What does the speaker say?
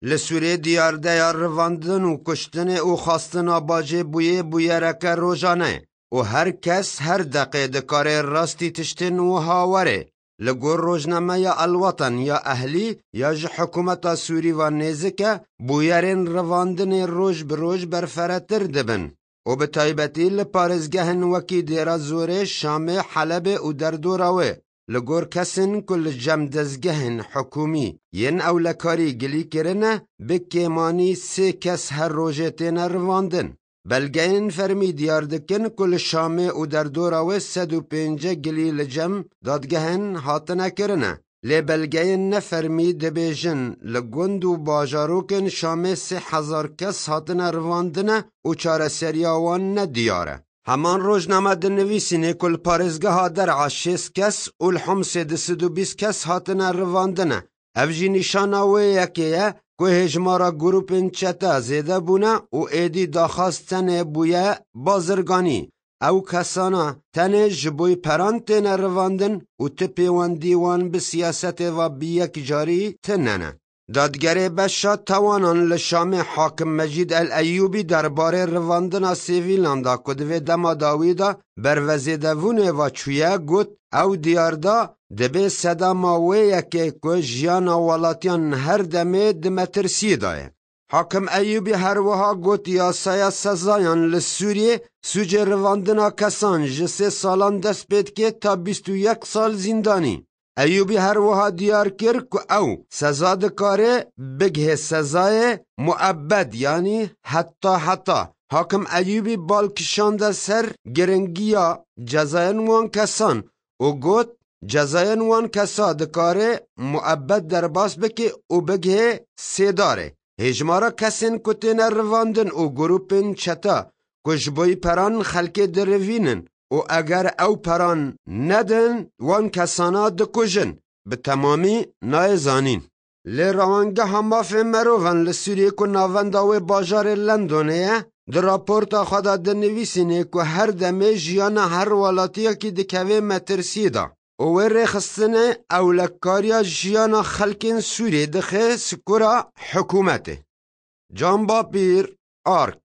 Li Sûrê diyardeya rivandin û kuştinê û xastina bajê bûyê bûyereke rojane û her kes her deqê dikarê rastî tiştên wiha were li gor rojnameya El Watan ya Ehlî ya ji hikûmeta Sûrî ve nêzik e, bûyerên rivandinê roj bi roj berferetir dibin û bi taybetî li parêzgehên wekî Dêra Zorê, Şamê, Helebê û derdora wê. li gor kesên ku li jemdezgehên hikûmî yên ewlekarî gilî kirine bi kêmanî sê kes her rojê têne rivandin. Belgeyên fermî diyar dikin ku li Şamê û derdora wê sed û pênc gilî li cem dadgehên hatine kirine. Lê belgeyên ne fermî dibêjin li gund û bajarokên Şamê sê hezar kes hatine rivandine û çareseriya wan ne diyar e. Heman rojname di nivîsînê ku li parêzgeha der'a şêst kes û li Homsê di sid û bîst kes hatine rivandine. Ev jî nîşana wê yekê ye ku hêjmara grûpên çete zêde bûne û êdî daxwaz tenê bûye bazirganî. Ew kesana tenê ji bo peran têne rivandin û ti pêwendî wan bi siyasetê ve bi yek carî tine ne. Dadgerê beşa tawanan li Şamê Hakim Mecîd El Eyûbî derbarê rivandina sivîlan da ku di vê dema dawî de ber vezêdevûnê ve çûye got, Ew diyar da, dibê sedema wê yekê ku jiyana welatiyan her demê di metirsiyê de ye. Hakim Eyûbî her wiha got yasaya sezayan li Sûriyê sûcê rivandina kesan ji sê salan dest pê dike ta bîst û yek sal zîndanî. Eyûbî her wiha diyar kir ku ew seza dikare bigihê sezayê muebed yanî heta heta. Hakim Eyûbî bal kişande ser giringiya cezayên wan kesan û got, Cezayên wan kesa dikare muebed derbas bike û bigihê sê darê. Hêjmara kesên ku têne rivandin û grûpên çeta ku ji bo peran xelkê dirivînin û eger ew peran nedin wan kesana dikujin bi temamî nayê zanîn. Lê Rewangeha Mafên Merovan li Sûriyê ku navenda wê bajarê Londonê ye, di raporta xwe de dinivîsînê ku her demê jiyana her welatiyekî dikevê metirsiyê de. û wê rêxistinê ewlekariya jiyana xelkên Sûriyê dixe sikora hikûmetê. Can Bapîr, ark.